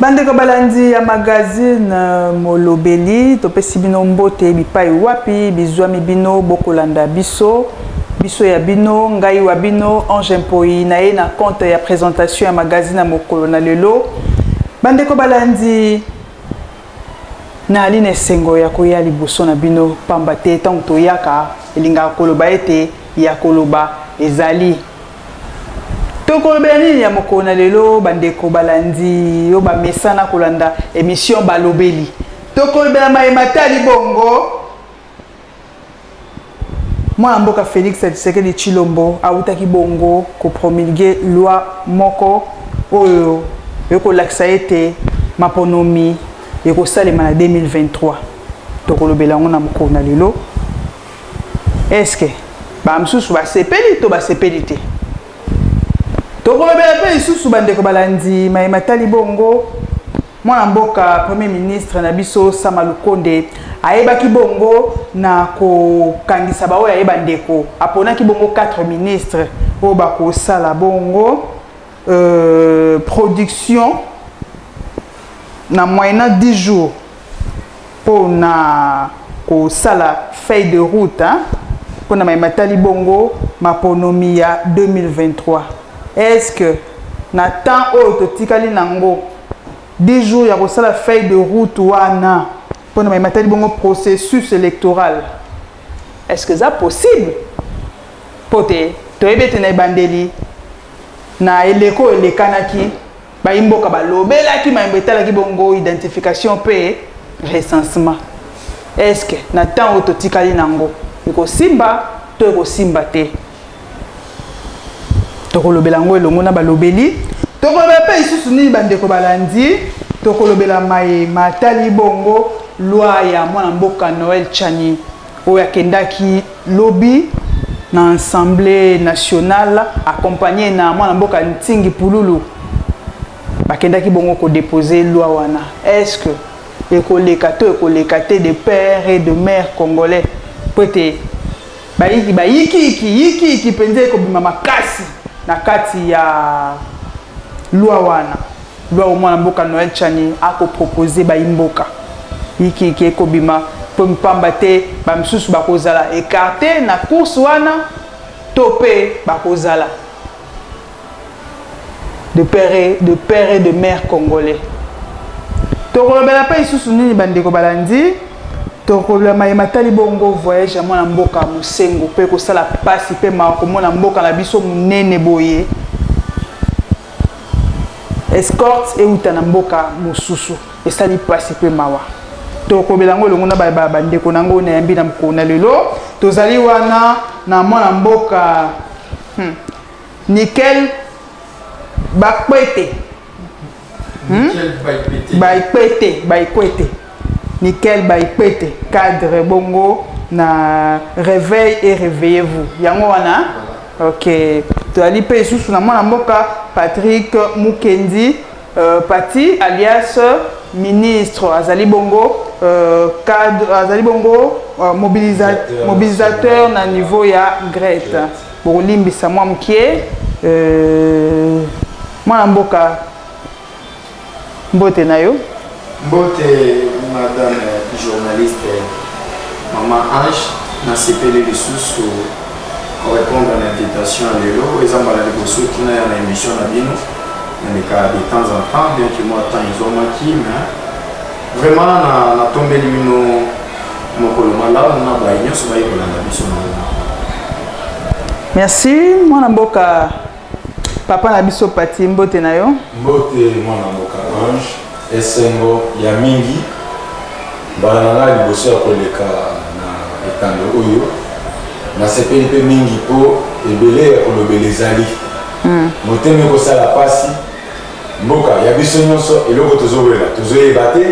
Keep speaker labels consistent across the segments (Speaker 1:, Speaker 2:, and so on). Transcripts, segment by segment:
Speaker 1: bandeko balandi ya magazine euh, molobeli topesi bino mbote bipai wapi bizwami bino bokolanda biso biso ya bino ngai wa bino ange mpoi na ye na compte ya présentation ya magazine ya mokolo na lelo bandeko balandi nayali na esengo ya koya liboso na bino mpamba te ntango toyaka elingaka koloba ete ya koloba ezali tokolobela nini ya mokolo na lelo bandeko balandi yo bamesana kolanda emission balobeli tokolobela maye matali bongo mwana mboka félix tshisekedi tshilombo awutaki bongo kopromulge loi moko oyo ekolakisa ete maponomi ekosalema na 2023 tokolobela yango na mokolo na lelo eske bamosusu basepeli to basepeli te tokolobela mpe lisusu bandeko balandi maye matali bongo mwana mboka premier ministre na biso sama lukonde ayebaki bongo na kokangisa baoyo aye bandeko aponaki bongo 4 ministre oyo bakosala bongo euh, production na moyena 10 jours mpo na kosala feuille de route mpo na mai matali bongo maponomi ya 2023 est ce que na temps oyo totikali na yango 10 jours ya kosala feuille de route wana mpo na mai matali bongo processus électoral est ce que eza possible mpo te toyebi ete na ebandeli na eleko elekanaki Bayimboka balobelaki mayembo etalaki bongo identification mpe recensement. Est-ce que na temps oyo totikali nango ekosimba to ekosimba te? Tokolobela yango elongo na balobeli. Tokolobela mpe lisusu nini bandeko balandi. Tokolobela maye matali bongo loi ya mwana mboka Noël Tshani. oyo akendaki lobi na assemblée nationale accompagné na mwana mboka ntingi pululu bakendaki bongo kodepose loi wana est ce que ekoleka to ekoleka te de père et de mère congolais mpo ete bayiki bayikiyiki yikiyiki mpenza ekobima makasi na kati ya lwa wana Gloire au mwana mboka Noël Chani ako proposer ba imboka. Yiki yiki ekobima po mpamba te ba misusu bakozala écarté na course wana to pe bakozala de père et de père et de mère congolais. Tokolobela pe isusu nini bandeko balandi tokolobela maye matali bongo voyage ya mwana mboka mosengo pe kosala pasi pe makomona mboka na biso monene boye escorte euta na mboka mosusu esali mpasi mpe mawa tokobela yango elongo na bandeko na yango nayambi na mokolo na lelo tozali wana na mwana mboka hmm. nikel bakwete hmm? bakwete bakwete Nickel by Pete, cadre bongo na reveil et réveillez-vous. Yango wana Ok. Toali pe isusu na mwana mboka Patrick Mukendi euh, Pati alias ministre azali bongo euh, cadre azali bongo euh, mobilisateur, mobilisateur na niveau ya Grete. Bokolimbisa mwa mokie euh, mwana mboka mbote na yo mbote
Speaker 2: madame journaliste mama ange nasepeli lisusu korépondre na invitation ya lelo eza mbala liboso tuna ya na émission na bino nalekaka de temps en temps bien que moi temps ezwamaki mais vraiment natombeli bino mokolo malamu na baye nyonso bayekolanda biso na merci
Speaker 1: mwana mboka papa na biso pati mbote na yo mbote mwana
Speaker 3: mboka ange esengo ya mingi mbala na ngai liboso ya koleka na etando oyo nasepeli mpe mingi mpo ebele ya kolobela ezali hmm. motema ekosala mpasi mboka ya biso nyonso eloko tozowela tozoyeba te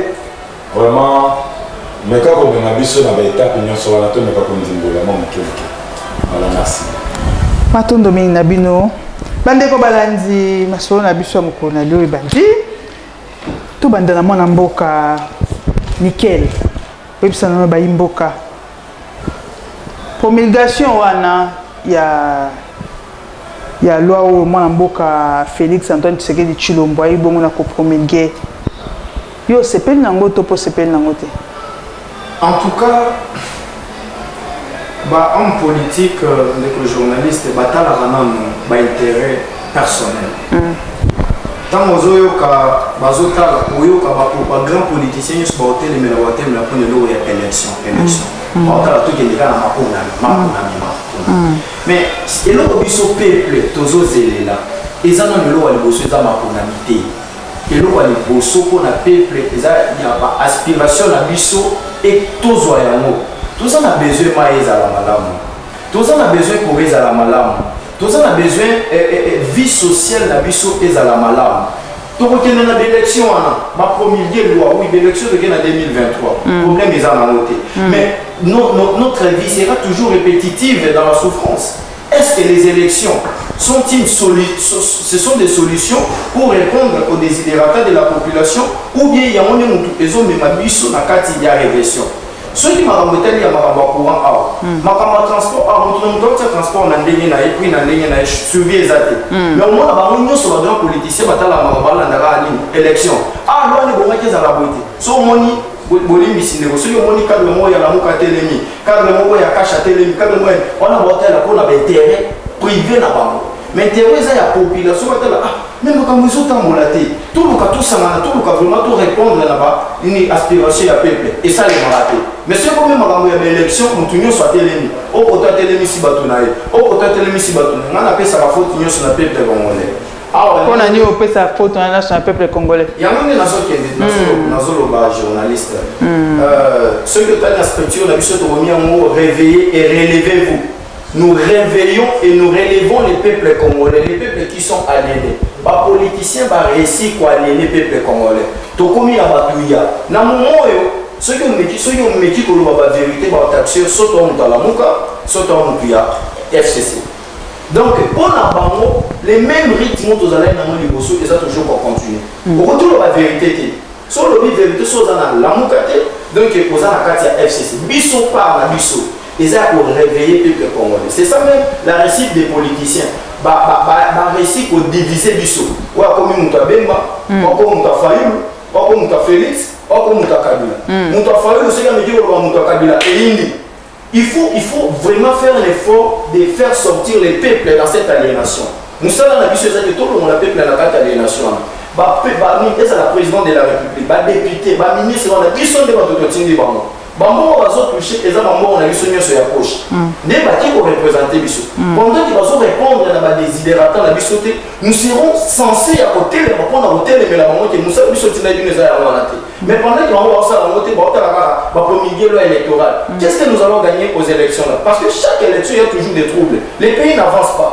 Speaker 3: Vraiment, meka komema biso na baetape nyonso wana tomeka kondimbola mwa moke moke. Voilà, merci. Matondo
Speaker 1: mingi na bino bandeko balandi masolo na biso ya mokolo na lio ebandi tobanda na mwana mboka nikel oyebisa nano bayi mboka promulgation wana ya ya loi oyo mwana mboka félix antoine tshisekedi tshilombo ayebi bongo na kopromulgue yo osepeli nango to mpo osepeli nango te en
Speaker 2: tout cas bahomme politique euh, ndeko journaliste batalaka nano baintérêt personnel ntango mm. ozoyoka bazotala oyoka bapropagrand politicien nyonso baotelemela baotelemela mpona eloko ya élection élection mm. mm. baotala tokende kaka na maponami maponami maponami mais eloko biso peuple tozozelela eza na eloko ya liboso eza maponami te eloko ya liboso mpo na peuple eza ya baaspiration na biso e tozwa yango toza na besoin mai ezala malamu toza na besoin kore ezala malamu toza na besoin eh, eh, eh, vie sociale na biso ezala malamu tokokende na baélection wana bapromulgue loi oui baélection toke na 2023 mm. problème eza nango te mm. mais no, no, notre vie sera toujours répétitive dans la souffrance est-ce que les élections sont une solu ce sont des solutions pour répondre aux désidératas de la population ou bien yango nde motu ezomema biso na kati ya régression soki makambo etali ya makambo ya courant awa hmm. makambo ya transport awa moto na moto aotia transport na ndenge na ye prix na ndenge na ye suivi eza te hmm. mais omona bango nyonso bagrand politicien batalaka makambo balandaka nini élection awa ah, lwani ebongaki ezala boye te so omoni bolimbisi ndeko soki omoni kable moko ya lamuka atelemi kable moko ya kasha atelemi kable moko wana baotala mpo na baintere privé na bango mais intérêt eza ya population batala ah mais makambo ezotambola te toluka tosangana toluka vraiment to répondre na ba une aspiration ya peuple esalemaka te mais soki ekomi makambo ya baélection motu nyonso atelemi okoto atelemisi bato na ye okoto atelemisi bato na ye ngai napesaka faute nyonso na peuple congolais mpo na nini
Speaker 1: opesa faute wana nyonso na peuple congolais yango nde nazokende
Speaker 2: hmm. nazoloba journaliste hmm. euh, soki otali na structure na biso tokomi yango réveille et relevez vous Nous réveillons et nous relevons les peuples congolais, les peuples qui sont aliénés. Ba politiciens ba réussi ko aliéner peuples congolais. Tokomi na batuya. Na momoyo soki omeki soki omeki koloba ba vérité ba taxeur soto moto alamuka soto moto ya FCC. Donc pour na bango les mêmes rythmes tozalaki na moni liboso eza toujours ko continuer. Mm. Okoki koloba vérité te. So lobi vérité so za na lamuka te donc oza na kati ya FCC. Biso par na biso. eza ko réveiller peuple congolais c'est ça même la réussite des politiciens ba ba ba, ba réussi ko diviser biso oyo akomi moto ya bemba mm. akomi moto ya fayulu akomi moto ya félix akomi moto ya kabila mm. moto ya fayulu soki ameki koloba moto ya kabila eyindi il faut il faut vraiment faire l'effort de faire sortir les peuples dans cette aliénation mosala na biso ezali tolongola peuple na kati ya aliénation wana ezala président de la république badepute baministre wana biso nde bato totindi bango bambongo bazotouche eza bambongo na biso nyonso ya poche mm. nde bake korepresente biso mm. pendant ke bazorépondre na badesiderata na biso te nous serons censé ya kotelema mpo na kotelemela bango te mosala biso ntina bino eza yango wana te mm. mais pendant ke bango baosala yango te baotala kaka bapromigelo électoral qu'est ce que nous allons gagner aux élections là parce que chaque élection il y a toujours des troubles les pays n'avance pas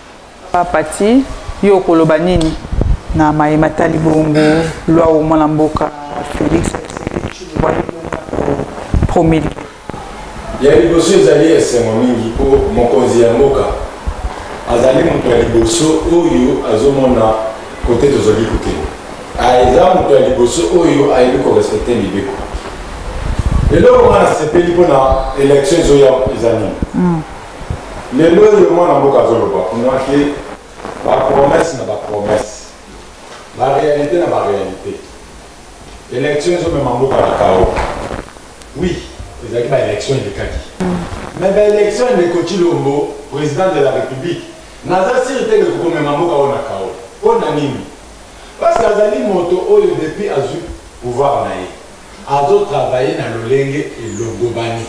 Speaker 1: Papati, yo okoloba nini na maye matali bongo lwa o mwana mboka Felix promili?
Speaker 3: Ya liboso ezali esengo mingi mpo mokonzi ya mboka azali moto ya liboso oyo azomona kote tozali kokende. Eza ah, moto ya liboso oyo ayebi korespecte mibeko. Eloko nga nasepeli mpo na election ezoya eza nini? Hmm. lelo oyo mwana mboka azoloba kuna te bapromese na bapromese barealité na barealité élection ezomema mboka na kao oui ezalaki baélection elekaki mais baélection ndeko cilombo président de la république naza siri te ndeko komema mboka oyo na kao mpo na nini parce que azali moto oyo depuis azwi pouvoir na ye azotravaille na lolenge elongobani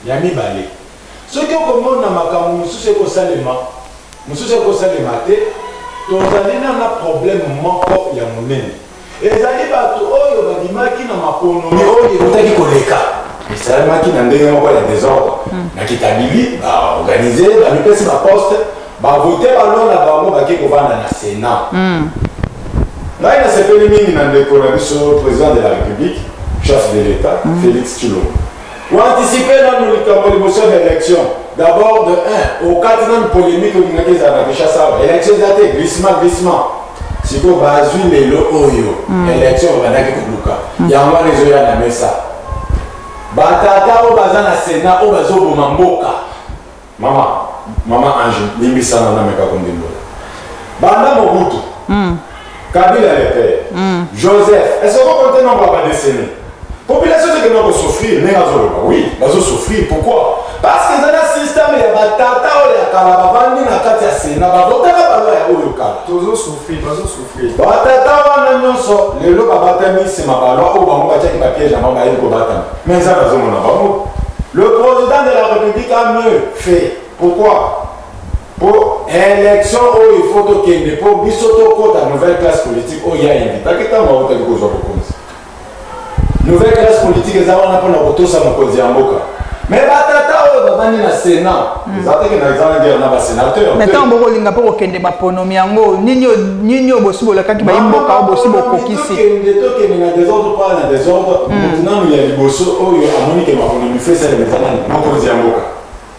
Speaker 3: ya mibale Soki okomona makambo mosusu ekosalema, mosusu ekosalema te, tozali nano na probleme moko ya monene. Ezali bato oyo babimaki na maponomi oyo ekotaki koleka, esalemaki na ndenge moko ya desordre hmm. na Kitabili, baorganize, bamipesi baposte, bavote baloi na bango bake kovanda na Senat. Hmm. Ngai nasepeli mingi na ndeko na biso, president de la République, chef de l'État, hmm. Félix Tshilombo. Oanticipe nanu likambo liboso ya baelection d'abord de un okati nanu polemique olingaki ezala na kinshasa awa election eza te glissement glissement sikoyo bazwi lelo oyo mm. election obandaki koluka mm. yango wana ezoya na mesa batata oyo baza na senat oyo bazoboma mboka Mama, mama Ange, limbisa nga nameka kondimbola. Banda Mobutu. Mm. Kabila le père. Mm. Joseph, est-ce qu'on compte non ba décennie? Population c'est que nous souffrir, mais bazo loba. Oui, bazo souffrir. Pourquoi? Parce que dans un système ya ba tata ou ya kala ba bandi na kati ya Sénat, ba votaka ba loi ya oyo kala. Tozo souffrir, bazo souffrir. Batata wana nyonso lelo babatami nsima balwa oyo bango batiaki bapiège na bango bayebi kobatama me nzambe azomona bango le président de la république a mieux fait pourquoi mpo élection oyo il faut tokende mpo biso tokota nouvelle classe politique oyo ya invitaki ntango autaki kozwa bokonzi nouvelle classe politique eza wana mpona kotosa mokonzi ya mboka mais batata oyo bavandi na sénat hmm. eza teke na eza na guerre na basénateur mais ntango bokolinga mpo
Speaker 1: kokende baponomi yango nini oyo bosi bolakaki bayi mboka oyo bosi bokokisi tokende na
Speaker 3: desordre mpona na desordre hmm. motu nanu ya liboso oyo amoni ke maponomi fesalema eza nani mokonzi ya mboka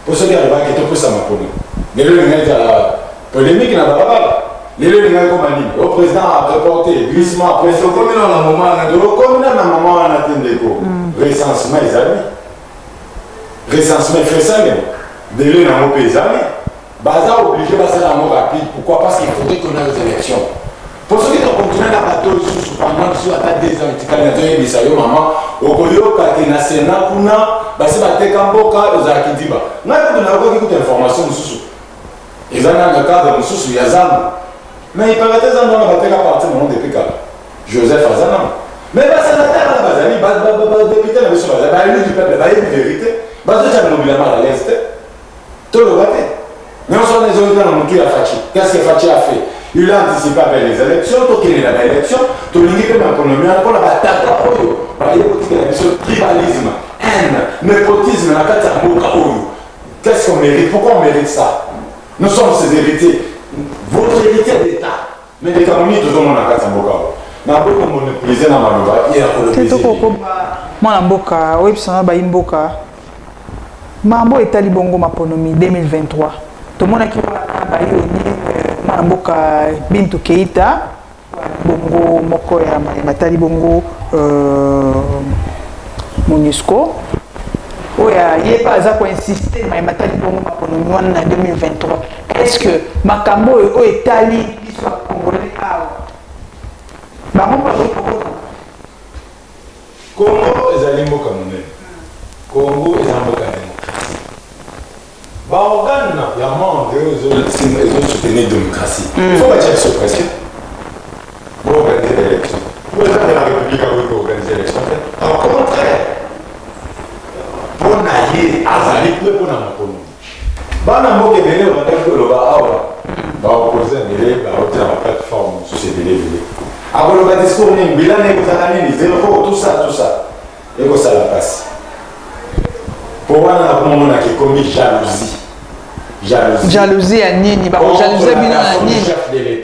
Speaker 3: Mpo soki alobaki topesa maponi, lelo elingaki ezala polemique na balabala, lelo elingaki koma nini? O oh, président a reporté glissement après. Tokomi na na moment wana, tokomi na na moment wana te ndeko. Mm. Recensement ezali, recensement efesami, délai na yango mpe ezali, baza obligé basala yango rapide. Pourquoi? Parce qu'il faudrait qu'on ait aux élections. po soki tokontina na bato lisusu pendant biso ata deux ans etikali na toyebisa yo mama okoyoka te na sena kuna basi bateka mboka ozala kidiba ngai kutu nayokaki kutu information mosusu eza na na cadre mosusu ya zambo me ipanga te zambo wana bateka parti na monde epe kala joseph aza nango me basenatare wana bazali badepute na biso bazali bayebi du peuple bayebi verité bazotya bilobila mal à l'aise te toloba te nyonso wana ezongi kaka motu ya faci qu'est-ce que faci a fait il a anticipe mpe les élections tokende na baélection tolingi mpe maponomi wana mpo na batata oyo baye kotikela biso tribalisme haine nepotisme na kati ya mboka oyo qu'est-ce qu'on mérite pourquoi on mérite ça nous sommes ses héritiers votre héritier d'état Mais les Camerounais, tout le monde a 400 bocaux. Na beaucoup monopolisé na maloba et ya kolobezi. Tete koko mwana
Speaker 1: mboka oyebisa na bayi mboka mambo etali bongo maponomi 2023 tomonaki wana bayi oni euh, mwana mboka Bintu Keita bongo moko ya maye matali bongo euh, MONUSCO oyo ye mpe aza koinsiste maye matali bongo maponomi wana na 2023 est ce que makambo oyo oyo etali biso ya congolais awa bango bakoki kokota
Speaker 3: kongo ezali mboka monene kongo eza mboka ya demokrasi baorgane ya monde oyo ezolatisima ezosoutenir demokrasi mm. fo batya biso pression boorganize baélection boezana la république akoki koorganize élection te au contraire mpo na ye azali mpe mpo na makolo bana mboka ebele obandaki koloba awa baopose ebele baotia na plateforme mosusu ebele ebele akoloba discours nini bilana ekozala nini zero tusa tusa ekosala mpasi mpo wana nakomomonaka ekomi jalousie
Speaker 1: jalousie ya nini bakojalousie bino na nini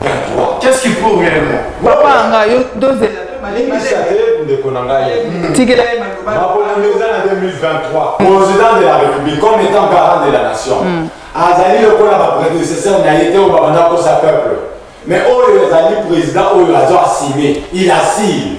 Speaker 3: 23 qu'est-ce qui prouve
Speaker 2: réellement papa nga yo
Speaker 1: dozela limbisa te ndeko na ngai tikela ye
Speaker 3: makolongo eza na 2023 président de la république comme étant garant de la nation hmm. azali lokola baprédécesseur na ye te oyo babanda kosa peuple mais oyo ezali président oyo azo asime il asile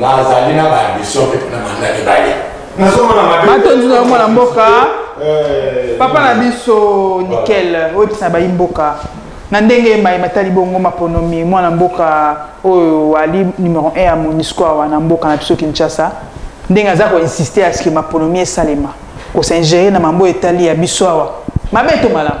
Speaker 3: Nazali na ba ambition pe na manda mibale. Nazomona mabe. Matondi na mwana
Speaker 1: mboka. Eh, Papa na biso nickel oyebisa bayi mboka na ndenge maye matali bongo maponomi mwana mboka oyo ali numero 1 ya monisco awa na mboka na biso kinshasa ndenge aza koinsiste aske maponomi esalema kosingere na mambo etali ya biso awa mabe to malamu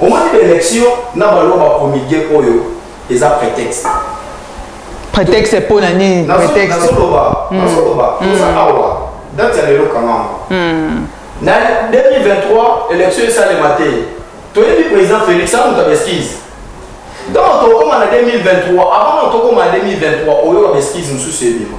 Speaker 2: Omoni ba election na ba loba komige oyo eza prétexte.
Speaker 1: Prétexte mpo na nini? Prétexte. Nazo loba, hmm. nazo loba. Toza hmm. awa. Date ya lelo
Speaker 2: kanga. Hmm. Na 2023 election esalema te. Toyebi président Félix amu ta beskise. Donc tokoma na 2023, avant tokoma na 2023 oyo ba beskise mosusu ebima.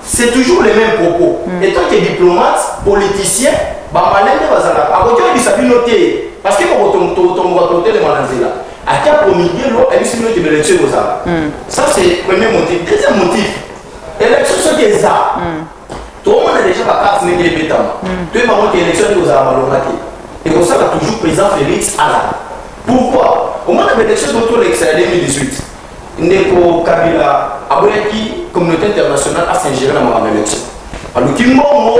Speaker 2: C'est toujours les mêmes propos. Mm. Et toi qui es diplomate, politicien, bamalende bazalaka akoki oyebisa bino te parce que kokotongoka totelema na nzela akia komigelo ayebisi bino ete baelektio ekozala hmm. ça c'est premier motif deuxième motif élection soki eza hmm. tomona déjà bakarte ndenge ebetama hmm. toyeba ngo te élection nde ekozala malonga te ekosala toujours président félix azala pourquoi omona baelection totolekisa ya 2018 ndeko kabila aboyaki communauté internationale asingere na makambo élection aluki mbongo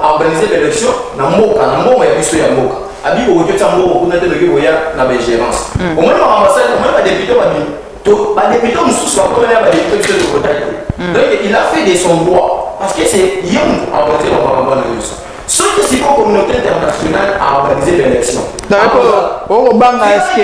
Speaker 2: aorganize baélection na mboka na mbongo ya biso ya mboka abi okoki otya mbongo kuna te loki koya na baingérance mm. omoni makambo asali omoni badepute babimi to badepute mosusu bakomela ya badepute biso tokotaki mm. donc il a fait de son droit parce que c'est ye moto aorganize bamakambo wana nyonso soki siko communauté internationale aorganize baélection okobanga
Speaker 1: eske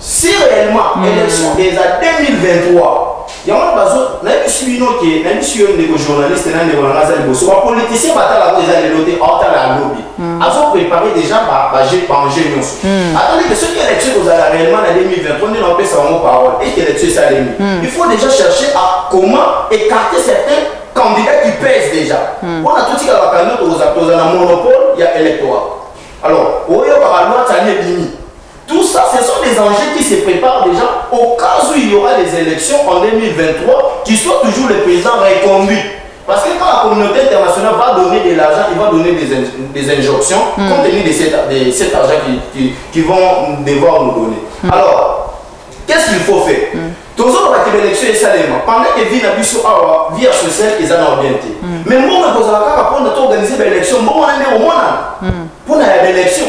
Speaker 2: si réellement mm. élection eza 2023 yango bazo nayebisi bino ke nayebisi yo ndeko journaliste na ndeko nanga aza liboso bapoliticien batalako eza lelo te aotala ya lobi mm. azoprépare déjà baenjeu nyonso mm. atali ke soki élection ekozala réellement na 2023 nde naopesa bango parole eke élection esalemi mm. il faut déjà chercher à comment écarter certains candidats qui pèsent déjà mpona totikala bakandidat tokozala tozala na monopole ya électorat alors oyo bakalwatani ebimi Tout ça, ce sont des enjeux qui se préparent déjà au cas où il y aura des élections en 2023, qui soit toujours le président reconduit. Parce que quand la communauté internationale va donner de l'argent, il va donner des, des injonctions mm. compte tenu de, cette, de cet argent qu'ils qui, qui vont devoir nous donner. Mm. Alors, qu'est-ce qu'il faut faire mm. tozoloba ke baélection esalema pendant ke vie na biso awa vie ya sociale eza na bien te mais mbongo ekozala kaka mpona toorganize baélection mbongo na nde omona mpona ya baélection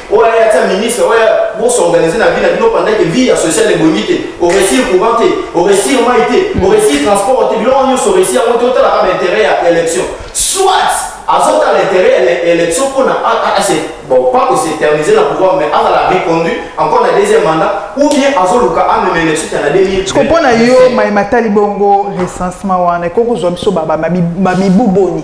Speaker 2: oyo aya atia ministre oyo bosorganize na vie na bino pendant ke vie ya sociale ebongi te oresir courant te oresir mai te oresir mm. transport te biloko nyonso oresi yango te otalaka bainteret ya élection soit azotala interet ya élection mpona bon pas que s'éterniser na pouvoir mais azala reconduit encore na deuxième mandat ou bien azoluka amema élection tana 2000 siko mpo na yo mai
Speaker 1: matali bongo recensement wana ekoki kozwa biso bamibu boni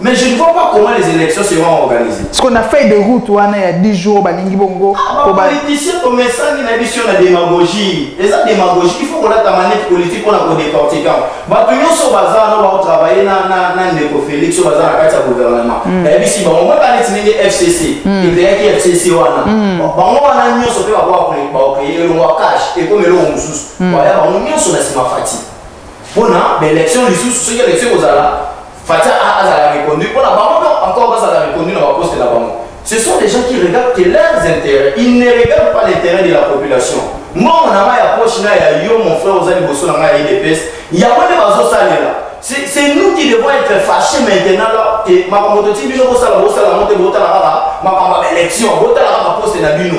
Speaker 2: Mais je ne vois pas comment les élections seront organisées. Parce qu'on a fait des routes
Speaker 1: wana ya 10 jours balingi bongo. Ah, ba politicien
Speaker 2: to mesangi na biso na démagogie. Eza démagogie, il faut qu'on ait ta manette politique pour la décortiquer. Ba to nyoso baza na ba travailler na na na ndeko Félix so baza na kati ya gouvernement. Mm. Eh bisi bango ba tani tinenge FCC. Mm. Et bien qui FCC wana. Mm. Bango wana nyoso pe ba ba créer le cash et comme le mususu. Ba ya bango nyoso na sima fatigue. mpo na baélection lisusu soki élection ekozala fatia azala reconduit mpo na bango donc encore bazala reconduit na baposte na bango ce sont des gens qui regardent que leurs intérêts ils ne regardent pas l'intérêt de la population mbongo na ngai ya poche na ya yo mon frère oza liboso na ngai ya idps yango nde bazosalela c'est nous qui devons être fâchés maintenant là te makambo totiki bino bosala bosala yango te botala kaka makambo ya baélection botala kaka poste na bino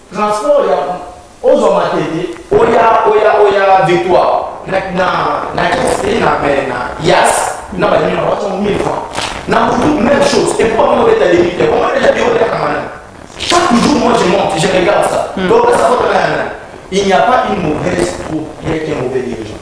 Speaker 2: Transport ya ozwa matete oya oya oya victoire na na na kese na mais na yas na ba nini ba tong mille francs na mutu même chose et pourquoi on est à l'éviter on est déjà bureau de kamana chaque jour moi je monte je regarde ça donc ça faut rien il n'y a pas une mauvaise troupe rien qu'un mauvais dirigeant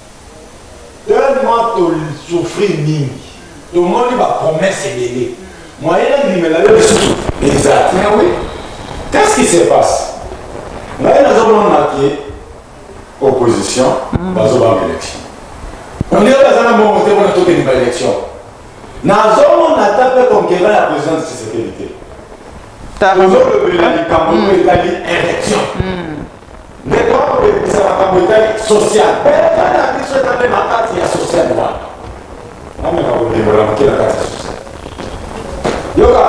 Speaker 3: tellement to souffrir mingi tomoni ba promesse ebele moyen nandimela yo lisusu exact mais oui qu'est-ce qui se passe ngai naza komona ke opposition mm. bazobanga élection ondire baza na mbongo te mpona tokende ba élection nazomona ata mpe conquérant ya président de sécurité tozolobela likambo oyo etali élection Ndeko akobebisa makambo etali social. Epai na biso eza nde na kati ya social wana. Nameka kolimbola moke na kati ya social. Yoka,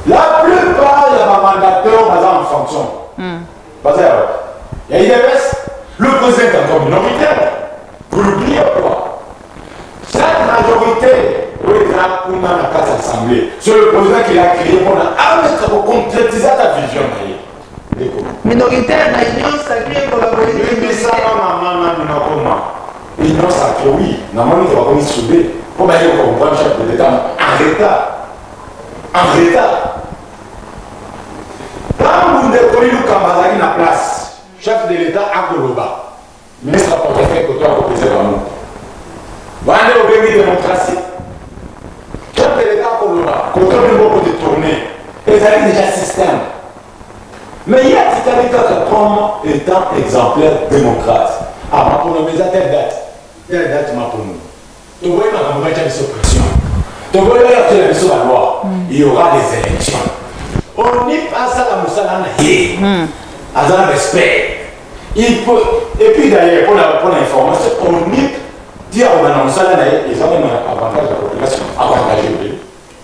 Speaker 3: la plupart ya bamandateur baza en fonction. Hmm. Baza ya wapi? Ya IDPS, le président est encore minoritaire. Vous l'oubliez ou quoi Cette majorité oyo eza kuna na kati ya assemblée sur le président qui l'a créé mpona ameka koconcrétisa
Speaker 1: ta vision na ye minoritaire na union sacrée kolabolimbisama
Speaker 3: mama nanu nakoma union sacrée oui namoni ke bakomi soude mpo baye kocomprendre chef de l'état en retard en retard ntango ndeko yilukamba azalaki na place chef de l'état akoloba Ministre ya portefeuille koto akopesa bango wana nde obengi demokrasi topeleka koloba koto ndenge okote tourne ezali deja système mais ye atikali kaka comme étant exemplaire démocrate amaponomi eza telle date telle date maponomi toboyi makambo batya biso pression toboyi bayakela biso baloi il y aura des élections onip asala mosala na ye hmm. aza na respect il peut et puis d'ailleurs mpona mpona information onip ti akobanda mosala na ye eza mema na avantage ya population avantage ebele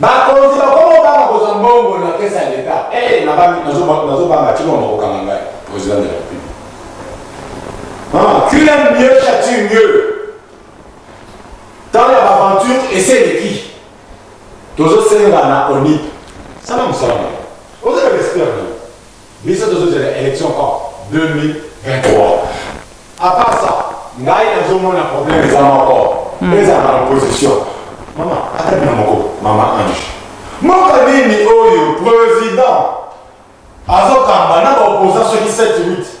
Speaker 3: Bakonzi bakoma kobanga kozwa mbongo na kese ya leta. Ee, nazobanga ti mama kokanga ngai president de la Republique. Qui aime mieux châtie mieux. Ntango ya baaventure esi eleki, tozosengana onip. Sala mosala na yo, ozala respect na yo. Biso tozo zela election quand 2023. A part ça, ngai nazo mona problème eza moko. Hmm. Eza na opposition. Mama, ata bina moko, mama Ange. Mboka nini oyo président azokamba na ba opposants soki 7 8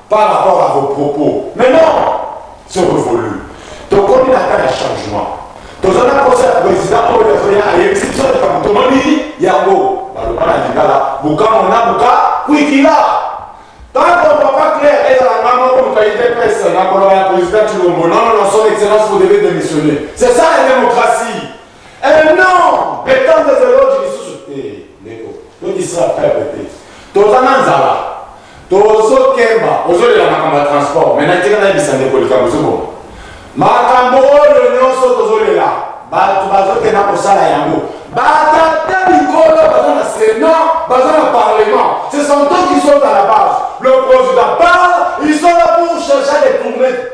Speaker 3: par rapport à vos propos mais non c'est révolu tokomi na temps ya changement toza na posa ya président oyo azoya ayebisi biso likambo tomoni yango baloba na lingala bukamo na buka kwikila tanto papa claire ezala nga moko moto ya idps na koloba ya président tshilombo non non son excellence vous devez démissionner c'est ça la démocratie Eh non, etant des eloges lisusu te. Eh, Ndeko, to distra peuple te. Toza na nzala. Tozo kemba, ozo lela makambo ya transport, mais na tika na yebisa ndeko likambo ozo boma. Makambo oyo nyonso tozo lela, bato bazo kenda kosala yango. Batata mikolo baza na Sénat, baza na Parlement. Ce sont eux qui sont à la base. Le président parle, ils sont là pour chercher à détourner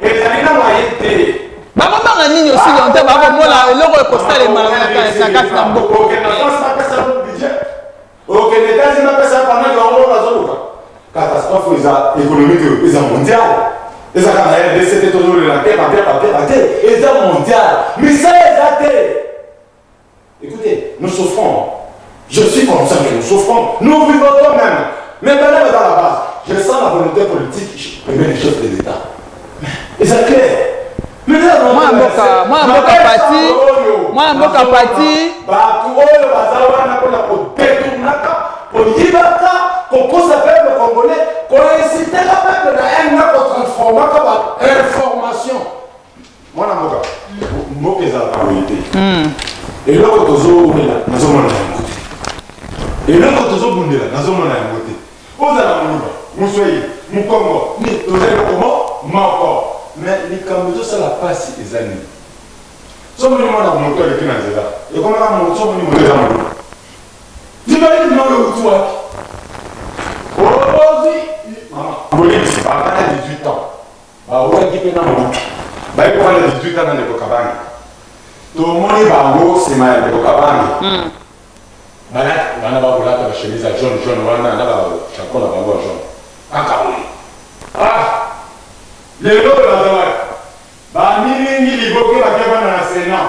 Speaker 3: ezali na mwaye te bakobanga nini
Speaker 1: osi longtemps bakomona eloko ekosalema na kati na mboka
Speaker 3: okende etazini bapesa panaki yango moko bazoluka catastrophe eza économique oyo eza mondial eza kaka na rdc te tozolela te papia papia te eza mondial misala eza te Écoutez, nous souffrons. Je suis conscient que nous souffrons. Nous vivons quand même. Mais pendant que dans la base, je sens la volonté politique et même les chefs de l'État. Et c'est clair. mwana mboka mwana mboka pati mwana mboka pati bato oyo baza wana mpona kodetunaka koyibaka kokosa peuple congolais koinsitaka peuple na ena kotransformaka bainformation mwana mboka mboka ezalaka boye te hmm. eloko tozowumela nazomona yango te eloko tozobundela nazomona yango te ozala moluba moswei mokongo ni toza eloko mo moko me likambo ezosala mpasi eza nini somoni mwana moto aleki na nzela ekomaka somoni moto eza moluba tibali bino oyo uti wapi obozi mama bolekisi bana 18 ans Bawelaki mpe na mama baye kofanda 18 ans na ndeko Kabange. Tomoni bango nsima ya ndeko Kabange. Hmm. Bana bana bakolata ba chemise ya jaune jaune wana na ba chapeau na bango ya jaune. Kaka boye. Ah! Lelo baza wapi? Bamilingi liboke bakebana na Senat.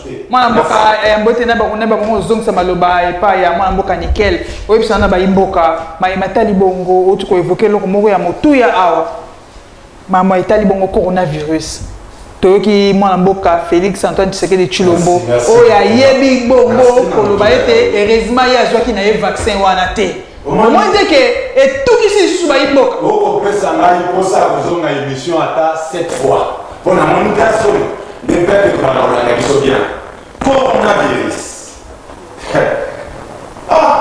Speaker 1: mwana mboka eh, mbote na bango na bango ozongisa maloba epai ya mwana mboka nikel oyebisana na bayimboka maye matali bongo outi koevoke eloko moko ya motuya awa mama etali bongo coronavirus toyoki mwana mboka félix antoine tshisekedi tshilombo oyo ayebi bongo koloba ete heureusement ye azwaki na ye vaccin wana te omoni te ke etukisi lisusu bayi mboka okopesa ngai
Speaker 3: mposa ya kozonga émission ata 7 fois mpo na moni ta soni nde pepe komana kolanda biso bien coronavirus ah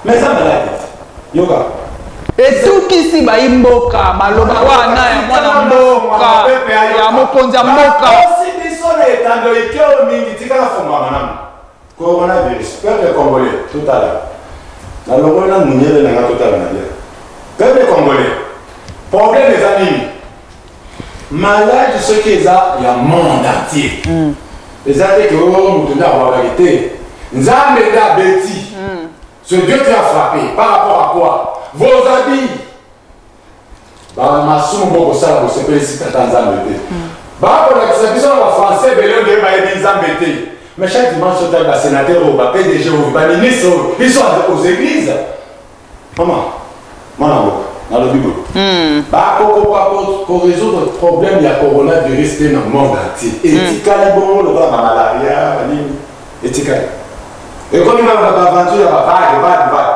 Speaker 3: mais eza maladi yoka
Speaker 1: etukisi bayi mboka maloba wana ya mwana mboka ya mokonzi ya mboka osi biso na
Speaker 3: etando ikeo mingi tikala fonga malamu Coronavirus peuple congolais totala na longoli na munyele na nga totala na bien peuple congolais problème eza nini malade soki eza ya monde entier mm. eza te ke oyo oh, moto nde abwakaki te nzambe nde abeti mm. ce dieu qui a frappé par rapport à quoi vos habits bamasumu bokosala bosepelisi tata nzambe te hmm. bakolakisa biso na bafrançais ebele oyo ndenge bayebi nzambe te mais chaque dimanche otali basénateur oyo bapdg oyo baministre oyo biso aux église mama mwana boka nalobi boye hmm. bakokoka koresoudre problème ya coronavirus te na monde entier hmm. etikali bongo lokola bamalaria banini etikali ekomi kaka baventure ya bavage vage vage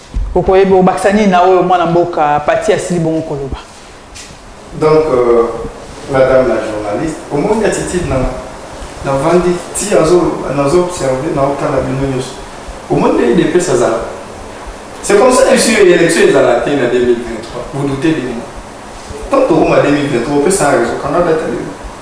Speaker 1: okoyeba obakisa nini na oyo mwana mboka pati asili bongo koloba
Speaker 2: donc euh, madame la journaliste omoni attitude na navandi ti nazoobserve naotala bino nyonso omoni nde idps azala c'est comme ça esi élection ezala te na 2023 vous doutez de moi tant tokoma 2023 opesana raison kanga data lelo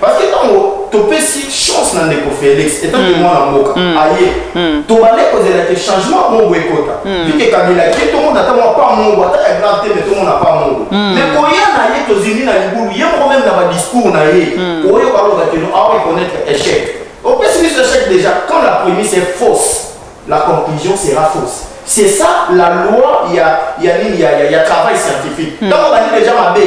Speaker 2: Parce que tango topesi chance na ndeko Felix etant que mwana mboka aye tobande kozela ke changement mongo ekota vike kabila ke tomona ata mwa pa mongo ata ya grave te me tomona pa mongo me koya na ye tozindi na libulu ye moko meme na badiscours na ye oyoka aloba kino awa econnaître échec opesi biso échec déjà quand la prémisse est fausse la conclusion sera fausse c'est ça la loi ya ya nini ya, ya, ya travail scientifique ntango bandi déjà mabe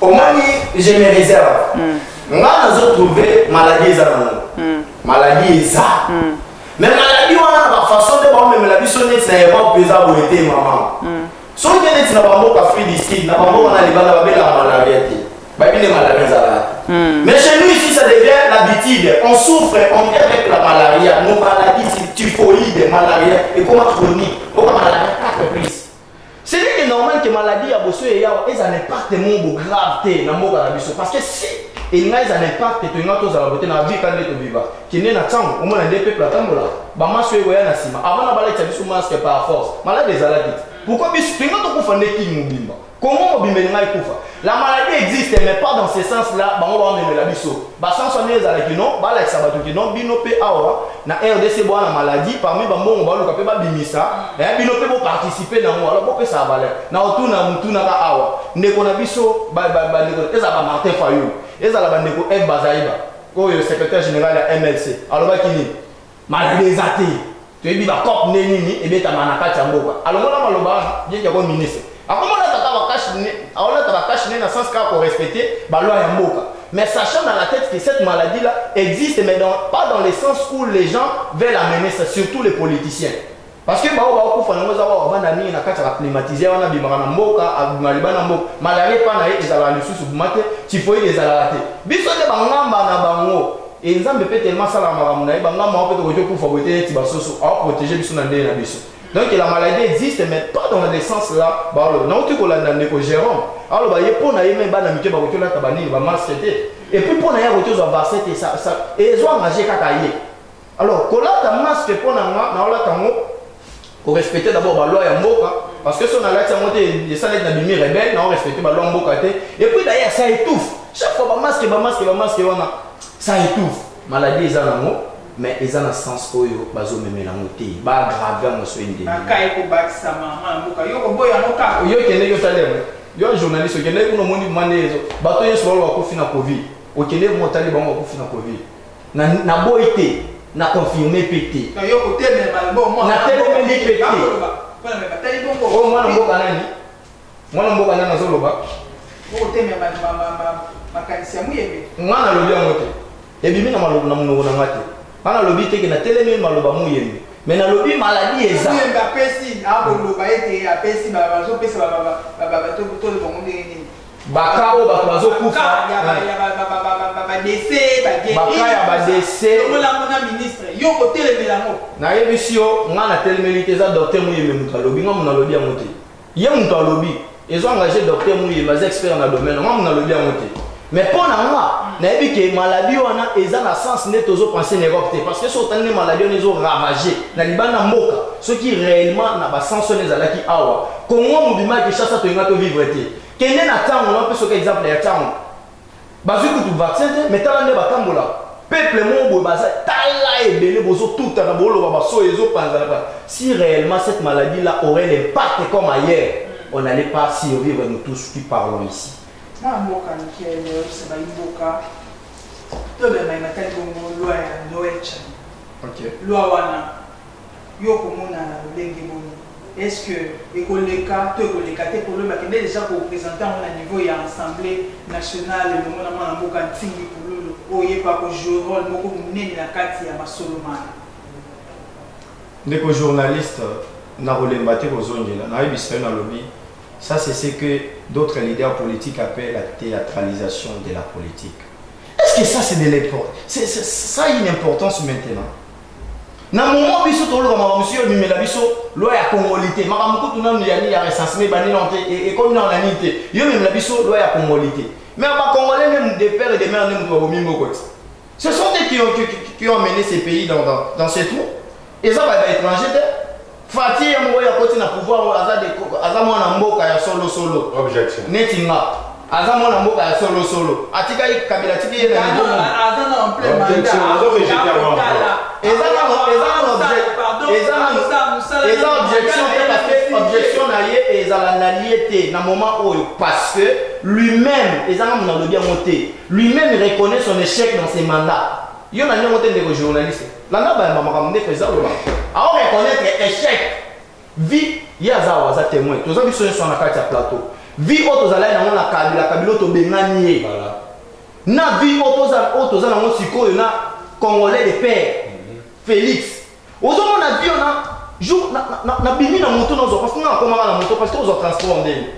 Speaker 1: omoni
Speaker 2: je me réserve mm. nga nazo trouve maladie eza nango mm. maladie eza mm. mais maladie wana na bafaçon nde baomemela biso neti na europe eza boye te mama mm. soki te neti na bamboka free district na bamboka na libanda babelaka malaria te bayebi nde malaria ezalaka mm. mais chez nous ici ça devient l'habitude on souffre on vit avec la malaria nos maladies typhoïde malaria ekoma chronique oka malaria 4 plus C'est vrai que normal que maladie ya boso ya yawa eza na impact moko grave te na mboka na biso parce que si elinga eza na impact te tolinga tozala bote na vie kande tobiva kende na ntango omona nde peuple atambola bamaso ekoya na nsima avant na balakisa biso masque par force malade ezalaki te pourquoi biso tolinga tokufa nde kini mobimba kongo mobimba elinga ekufa La maladie existe mais pas dans ce sens là bango ba memela biso. Ba sens wana ezala ki non ba lakisa bato ki non bino pe awa na RDC bwana maladie parmi ba mbongo ba luka pe ba bimisa eh bino pe bo participer na ngo alors bo pesa valeur. Na otuna mutuna ka awa ndeko na biso ba ba ba ndeko ezala ba Martin Fayulu ezala ba ndeko Ed Bazaiba oyo secrétaire général ya MLC alobaki nini Malade eza te. Toyebi ba cop nde nini ebetama na kati ya mboka. Alongola maloba wana, bien que comme ministre. Akomona tata ba cash ne, aolata ba cash ne na sens ka ko respecter ba loi ya mboka. Mais sachant dans la tête que cette maladie là existe mais dans, pas dans le sens où les gens veulent amener ça, surtout les politiciens. Parce que baoyo bakufa nango eza oyo avanda mingi na kati ya baclimatiseur wana abimaka na mboka abima liba na mboka malaria epa na ye ezalaka lisusu buma te tifoide ezalaka te biso nde bangamba na bango e nzambe mpe telema asalaka makambo na ye bangamba yango mpe tokoki tokufa boye te neti basusu aoprotege biso na ndenge na biso donc la maladie existe mais pas dans le sens là baoloba nauti kolanda ndeko jérôme aloba ye mpo na ye me bana mike bakoki olata banini bamaske te epuis mpo na ye akoki ozwa vaccin te ezwa engage kaka ye Alors kolata masque pona nga na olata ngo ko respecter d'abord ba loi ya mboka parce que son alati yango te esalaki na bimi rebelle na respecter ba loi ya mboka te et puis d'ailleurs ça étouffe chaque fois ba masque ba masque ba masque wana ça étouffe maladie eza nango mais eza na sens oyo bazomemela yango te baagrave yango so endeyokende yotali yango yo journaliste okendeki kuna omoni mande ezo bato nyonso bao bakufi na covid okendeki
Speaker 4: motali bango bakufi na covid Na na boyi te, na confirmer pe te. Na yo ko
Speaker 1: telemela ba bon moi. Na telemeli
Speaker 4: pe
Speaker 1: te. Oh mwana mboka nani?
Speaker 4: Mwana mboka nani azo loba? Ko telemela
Speaker 1: ba ba ba makanisi ya muyembe. Mwana lobi yango te.
Speaker 4: Ebimi na maloba na munoko na ngate. Mwana lobi te ke na telemeli maloba muyembe. me nalobi maladi ezayembe apesi
Speaker 1: akoloba ete apesi bazopesa bato tole bango ndenge nini Baka oyo bato
Speaker 4: bazokufa baka ya badese yo okotelemela
Speaker 1: yango nayebisi yo
Speaker 4: ngai natelemeli te eza docteur muyembe moto alobi ngai moto nalobi yango te ye moto alobi ezo engage docteur muyembe aza expert na domaine ngai moto nalobi yango te mais mpo na nga nayebi ke maladi wana eza na sens nde tozopense na europe te parce que soki otali nde maladi wana ezoravage na libanda mboka soki réellement na basens wana ezalaki awa Congo mobima ya Kinshasa tolinga to vivre te. Kende na tango na peso ka exemple ya tango. Bazui kutu vaccin te mais tala nde batambola. Peuple moko boye baza tala ebele bozo tuta na boloba baso ezo panza na ba. Si réellement cette maladie là aurait l'impact comme ailleurs, on n'allait pas survivre nous tous qui parlons ici. Na mboka
Speaker 1: mikele leo se ba mboka to bema imatali bongo loi ya Noël.
Speaker 4: Okay. Loi wana
Speaker 1: Yo okomona na lolenge boni? Est-ce que ekoleka to ekoleka te Polo bakende dejà ko presenter yango na niveau ya assemblee nationale elongo na mwana mboka Ntingi Pululu oyo ye pe ako jouer role moko munene na kati ya masolo mana.
Speaker 4: Ndeko journaliste, nakolemba te kozongela, nayebisa yo nalobi ça c'est ce que d'autres leaders politiques appellent la théâtralisation de la politique. Est-ce que ça c'est de l'importance Ça a une importance maintenant na momo biso toloba makambo mosusu oyo ememela biso loi ya kongoli te makambo kutu nanu ya nini ya recensement ebandi nano te e, ekomi nano na nini te yo ememela biso loi ya kongoli te mais bakongolais nde de père et de mère nde moto babomi mboko te ce sont eux qui ont, qui, qui ont mené ce pays dans, dans, dans ce trou eza baétranger te Fatshi ye moko yakoti na pouvoir oyo aza aza mwana mboka ya solo solo. Objection. Neti nga. Aza mwana mboka ya solo solo. Atikaki kabila atiki ye na niveau. Aza na en plein mandat.
Speaker 1: Objection. Azo rejeter
Speaker 3: moi. Eza na eza na objection. Eza na
Speaker 4: eza objection te parce que objection na ye ezala na lie te na moment oyo parce que lui-même eza na mona lobi yango te. Lui-même reconnaît son échec dans ses mandats. Yo na ndenge te ndeko journaliste. Nana ba mama makambo ndeko eza loba. Ao reconnaître échec. Vie ye aza awa aza témoin. Toza biso nso na kati ya plateau. Vie oyo tozalaki nango na kabila kabila tobengani ye.
Speaker 3: Na vie oyo
Speaker 4: toza oyo toza nango sikoyo na congolais de père. Mhm. Félix. Ozomona vie na jour na na na bimi na moto na zo parce que na komanga na moto parce que ozo transport ndenge.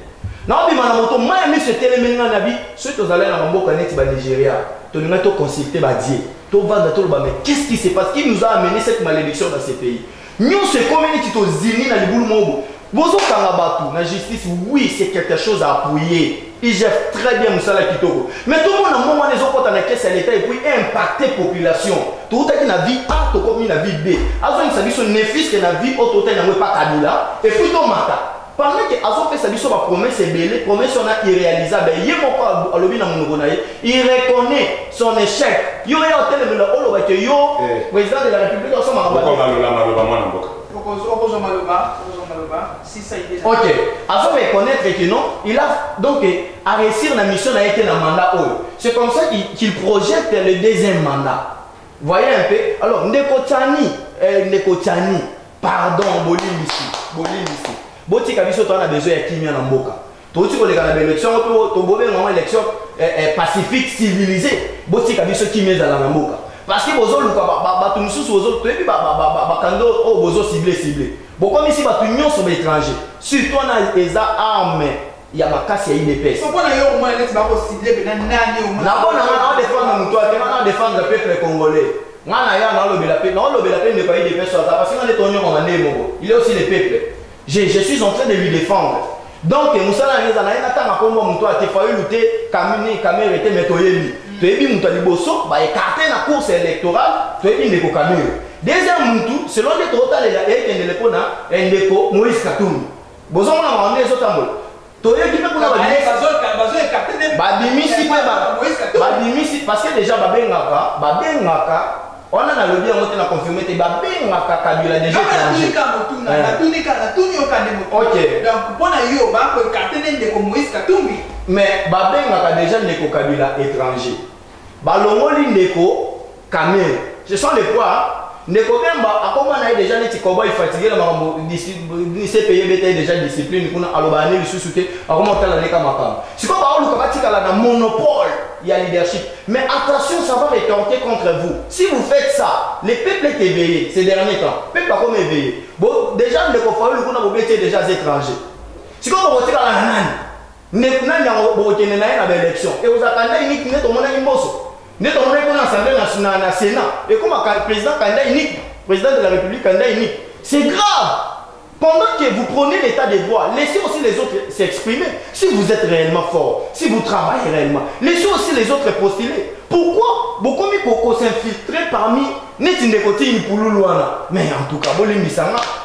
Speaker 4: Na bima na moto maya miso etelemeli na nabi soki tozalaki na mboka neti ba Nigeria tolinga to consulter ba dieu. tovanda toloba mais qu'est ce qui se passe qui nous a amené cette malédiction dans ces pays nyonso ekomi neti tozindi na libulu moko bozokanga bato na justice oui c'est quelque chose à appuyer igf très bien mosala kitoko mais tomona mbongo wana ezokɔta na kese ya leta epuis impacte population toutaki na vie a tokomi na vie b azongisa biso nefiske na vie oyo toutaki yango epa kabila epuis tomata Pendant que azopesa biso ba promesses ebele, promesse wana irrealisable. Ye moko alo- alobi na monoko na ye, il reconnaît son échec. Yo ya otelemela oloba que yo Eh. président de la République osoma Boko mabe. malola maloba
Speaker 3: mwana mboka. Okozo- okozwa maloba
Speaker 1: okozwa maloba sisa ide Ok, azo
Speaker 4: reconnaître que non, il a donc à réussir la mission n'a été la mandat oyo. C'est comme ça qu'il qu'il projette le deuxième mandat. Voyez un peu. Alors Ndeko Tani, euh, Ndeko Tani, pardon bolimbisi bolimbisi botika biso toza na besoin ya kimia na mboka touti koleka na baélection yango mpe tobobenga yango élection eh, eh, pacifique civilisé botika biso kimia ezala na mboka parce que bozoluka bato mosusu toyebi bakando oyo bozocible cible bokomisi bato nyonso baétranger surtout wana eza arme ya makasi ya idps
Speaker 1: nakona nga naodefendre
Speaker 4: moto ake nga naodefendre peuple congolais Nga na ya naolobela pe naolobela pe ndeko ya idps aza parce nga nde tonyokoma ndenge moko il est aussi le peuple je, je suis en train de lui défendre donc mosala yango eza naye natanga nkombo moto ate fayulu te kamini kamere te me toyebi toyebi moto ya liboso baekarte na course électorale toyebi ndeko kamere deuxième motu selon nde tootalela ekendele mpo na eh, ndeko moïse katumbi bozomona mawa nde ezotambola toyoki mpe kuna babimisi mpe babimisi parce que déjà babengaka babengaka wana nalobi yango te na confirme te babengaka kabila déjà mpona yo
Speaker 1: bakoekarte nde ndeko moïse katumbi mais
Speaker 4: babengaka
Speaker 1: déjà
Speaker 4: ndeko
Speaker 1: kabila
Speaker 4: étranger Balongoli ndeko Kamere. Ce sont les poids. Ndeko Bemba akoma na ye deja neti cowboy fatigué na makambo CPI beta ye deja discipline kuna aloba ane lisusu te akoma kotala leka makambo. Sikoyo baoluka batikala na monopole ya leadership. Mais attention, ça va retorquer contre vous. Si vous faites ça, le peuple est éveillé ces derniers temps. Peuple akoma éveillé. Bo, deja ndeko Fayulu kuna bobeti ye deja aza étranger. Sikoyo bokotikala na nani? Ndeko nani yango bokokende na ye na baelection ekozala kanda unique nde tomonaki mboso nde tomonaki mpona assemblée nationale na sénat ekoma président kanda unique président de la république kanda unique c'est grave pendant que vous prenez l'état des droits laissez aussi les autres s'exprimer si vous êtes réellement fort si vous travaillez réellement laissez aussi les autres postuler pourquoi bokomi kokosinfiltre parmi neti ndeko ti mpululu wana mais en tout cas bolimbisa nga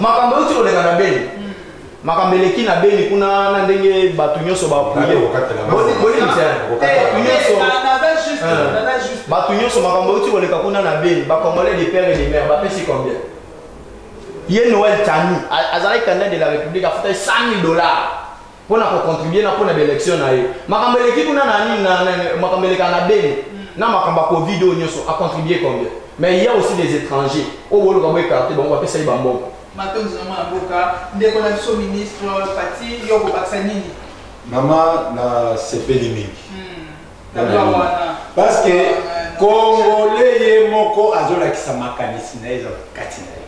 Speaker 4: makambo euti koleka na beni hmm. makambo eleki na beni kuna na ndenge bato nyonso bato nyonso makambo euti koleka kuna na beni bacongolais de père et de mère bapesi combien ye noel tani azalaki candidat de la république afutaki 100 000 dollars mpo na kocontribue na mpo na baelection na ye makambo eleki kuna na nini makambo elekaka na beni na makambo ya covid oyo nyonso acontribue combien mais il y a aussi des étrangers oyo boluka boekarte bango bapesa ye bambongo matondi na mwana mboka ndeko na
Speaker 1: biso ministre pati yo kobakisa nini mama
Speaker 3: nasepeli mingi hmm. parce que congolais ye moko azolakisa makanisi na ye eza kati na ye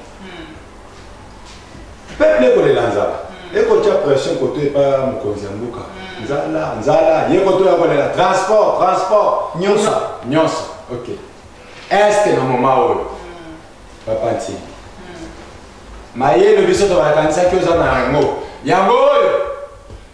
Speaker 3: peuple ekolela nzala mm. ekotya pression koto epa mokonzi ya mboka mm. nzala nzala ye koto ya kolela transport transport nyonso nyonso ok este na moma oyo mm. papa ntingi mayele biso tobakanisaki oza na yango yango oyo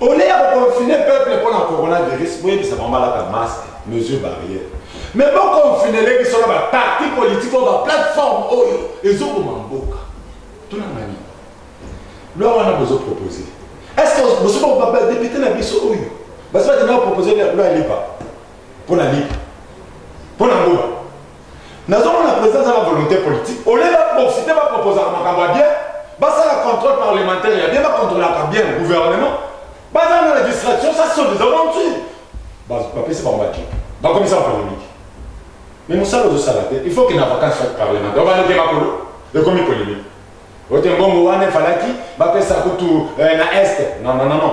Speaker 3: Au lieu ya ko confiner peuple mpo na coronavirus, boyebisa bango balata masque, mesure barrière. Mais bo confiner le biso na ba parti politique oyo ba plateforme oyo ezoboma mboka. Tuna ngani. Loi wana bozo proposer. Est-ce que bozo ba député na biso oyo? Basi ba tena proposer loi lipa. mpo na nini mpo na nguma nazomona président aza na volonté politique olie baprofite baproposaka makambo ya bien basala contrôle parlementaire ya bien bacontrôlaka bien gouvernement baza na la distraction ça sont des aventures bapesi bango baki bakomisa polémique mais mosala ozosala te il faut que na vacance fête parlementaire obanoke makolo ekomi polémique ote mbongo wana efalaki bapesa kutu eh, na est non non non non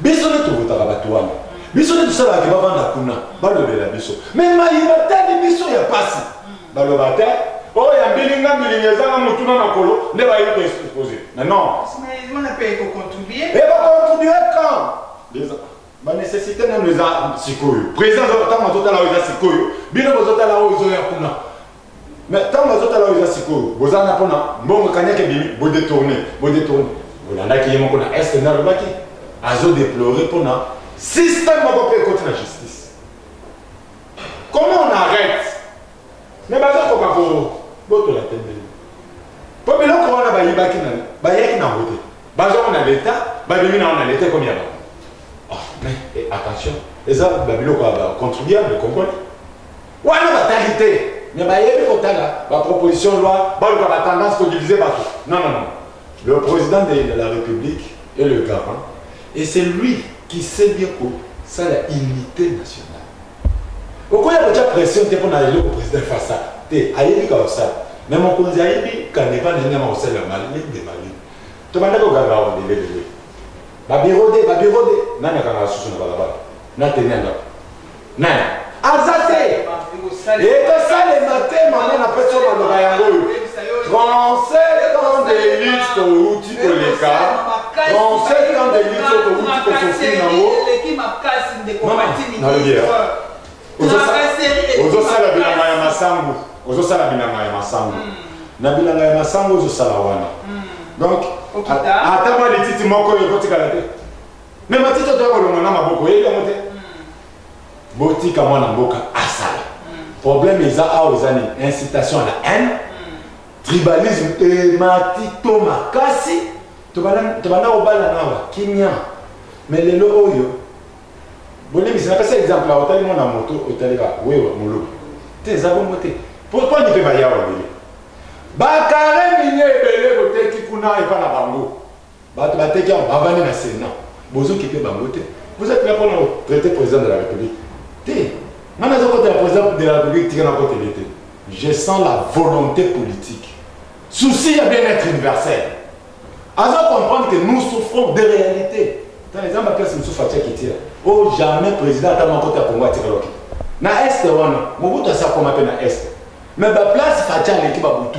Speaker 3: biso nde tovotaka bato wana biso nde tosalaka ke bavanda kuna balobela biso me mai batali biso ya mpasi baloba te oyo ya mbilinga mbilinga ezanga motuna makolo nde bayebi koexpose na non ebakontribue
Speaker 1: eh,
Speaker 3: quand banécessité nano eza sikoyo président ntango azotala oyo eza sikoyo bino bozotala oyo ezoya kuna Mais tango azo tala oyo eza sikoyo boza na pona mbongo kanyaka ebimi bo détourner bo détourner bolandaki ye moko na est na lobaki azo déplorer pona système moko pe ekoti na justice comment on arrête mais bazo koka ko botola tembeli po biloko wana bayibaki na bayaki na ngote bazo na l'état babimi na na l'état comme ya ba ah mais eh, attention eza ba biloko ya ba contribuable comprenez wana batali te mais bayebi kotala baproposition loi baluka batendance kodivise bato non non non le président de la république est le garant et c'est lui qui sait bien kosala unité nationale okoya kotya pression te mpo na eloko président efasa te ayebi ka kosala mais mokonzi ayebi kaneva na ndenge makosala ya mali nde mali tobanda koganga awa lelelele babiro de babiro de nani akanga susu na balabala na teni ya ndako na aza te ekosalema te mama na peso maloba yango oyo 37 ans de lutte touti koleka 37 ans de lutte oyo touti kosofiri nango ozosala bilanga ya masangu ozosala bilanga ya masangu hmm. na bilanga ya masangu ozosala wana hmm. donc ata mwa lititi moko oyo ekotikala te me matiti otoya kolonga na maboko oyebi yango te hmm. botika mwana mboka asala hmm. problème eza awa eza nini incitation à la haine hmm. tribalisme emati to makasi tobanda kobala nawa kimia me lelo oyo bolimbisi napesa exemple otali mwana moto otali ba wewa moluba te eza bongo te pourkoi nipe bayawa bele bakare minie ebele boteki kuna epa na bango bato bateki yango bavandi na senat bozokipe bango te vous êtes là mpona kotraite président de la république te nga nazokotela président de la république tika nakotele te je sens la volonté politique souci ya bien-être universel aza comprendre que nous souffrons de réalité ntango eza baplace mosusu atiaki tira o oh, jamais président ata moko te ya kongo atikaloki na este wana mobutu asi akoma mpe na este mais baplace faci aleki babutu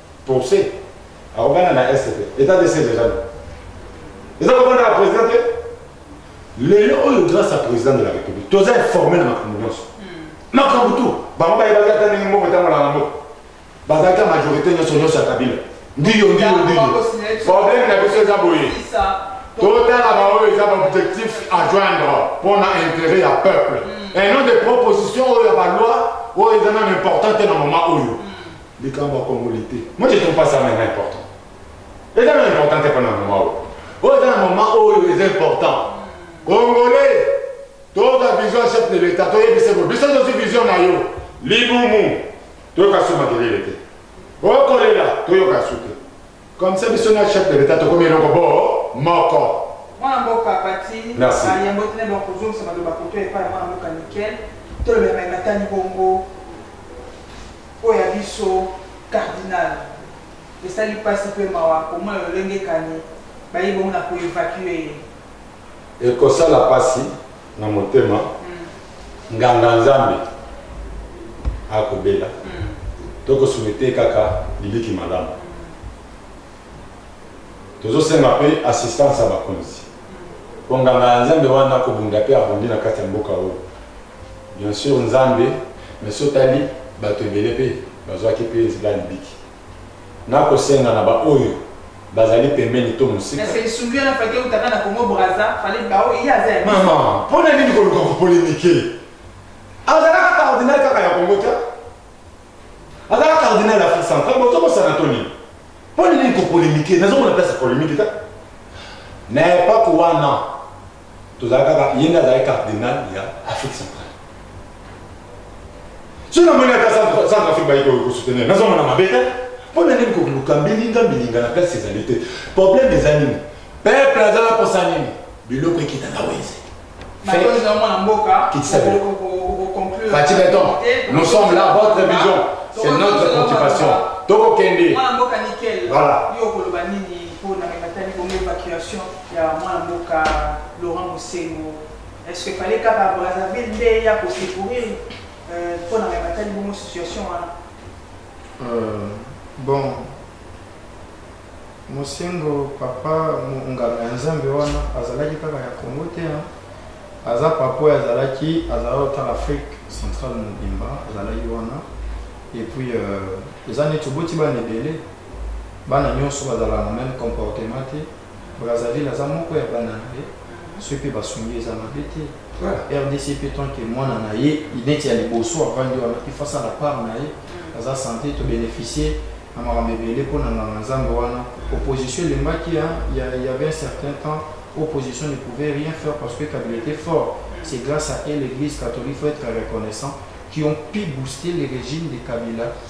Speaker 3: Procès akobanda na est te etat de siège eza nini eza kobanda ya président te lelo oyo grâce à président de la république toza informe na makambo nyonso makambo tu bango bayebaki ata ndenge mbongo etambolaka mboka bazalaki majorité nyonso nyonso ya kabila ndiyo ndiyo ndiyo problème na biso eza boye totala baoyo eza baobjectif à joindre mpo na intérêt ya peuple et non de proposition oyo ya baloi oyo eza nano important te na moment oyo likambo ya congolais te moi je trouve pas ça maintenant important eza na important te mpo na mama oyo oyo eza na mama oyo eza important congolais toza vision chef de l'état toyebise bo biso tozwi vision na yo libumu toyoka su makelele te okolela toyoka su te Comme ça, biso na chef de l'État tokomi eloko bo moko. Mwana mboka
Speaker 1: pati bayembo tene ba
Speaker 3: kozongisa
Speaker 1: maloba koto epai ya mwana mboka nickel tolobela mai matani bongo oyo ya biso cardinal esali mpasi mpe mawa komona lolenge kani bayi bongo na koevacue ye
Speaker 3: ekosala mpasi na motema nganga nzambe akobela tokosuete kaka libiki malamu tozosenga mpe assistance ya bakonzi mpo nganga ya nzambe wana akobunda mpe abundi na kati ya mboka oyo bien sur nzambe mais sotali bato ebele mpe bazwaki mpe nzela libiki Nakosenga na ba oyo bazali pembeni to mosika. Kasi lisungi wana faki
Speaker 1: eutaka na Congo Brazza, fallait ba oyo ye aza ya biso. Mama, mpo na nini
Speaker 3: koluka ko polemiquer? Azalaka cardinal kaka ya Congo te? Azalaka cardinal ya Afrique centrale, botobosana to nini? Mpo na nini ko polemiquer? Nazomona place ya polemique te. Na epoque wana, tozala kaka ye nde azali cardinal ya afrique centrale soki namoni ata centre afrique bayi kosoutenir nazonga na mabe te mpo na nini koluka mbilinga mbilinga na place ezali te problème eza nini peuple aza na posa nini biloko ekita na wenze Fatih Beton, nous sommes là, votre vision, c'est notre préoccupation. Toko Kende. Voilà.
Speaker 1: ya mwana mboka Laurent Mosengo est-ce que fallait kaka Brazzaville nde ya ko secourir euh, mpo na matali bongo situation wana euh,
Speaker 2: bon Mosengo papa monganga ya Nzambe wana azalaki kaka ya Congo te hein? aza papa oyo azalaki azalaki otala Afrique centrale mobimba azalaki wana et
Speaker 4: puis euh, eza neti oboti bana ebele bana nyonso bazalaka na même comportement te Brazzaville aza moko ya bana na ye soki mpe basungi eza mabe te rdc mpe tant que mwana na ye neti ya liboso avandi wana il faut asala part na ye aza sante tobénéficie na makambo ebele mpo na nganga nzambe wana opposition elembaki ya y avait un certain temps opposition ne pouvait rien faire parce que kabila était fort c'est grâce à elle l'église catholique faut être reconnaissant qui ont pu booster le régime de kabila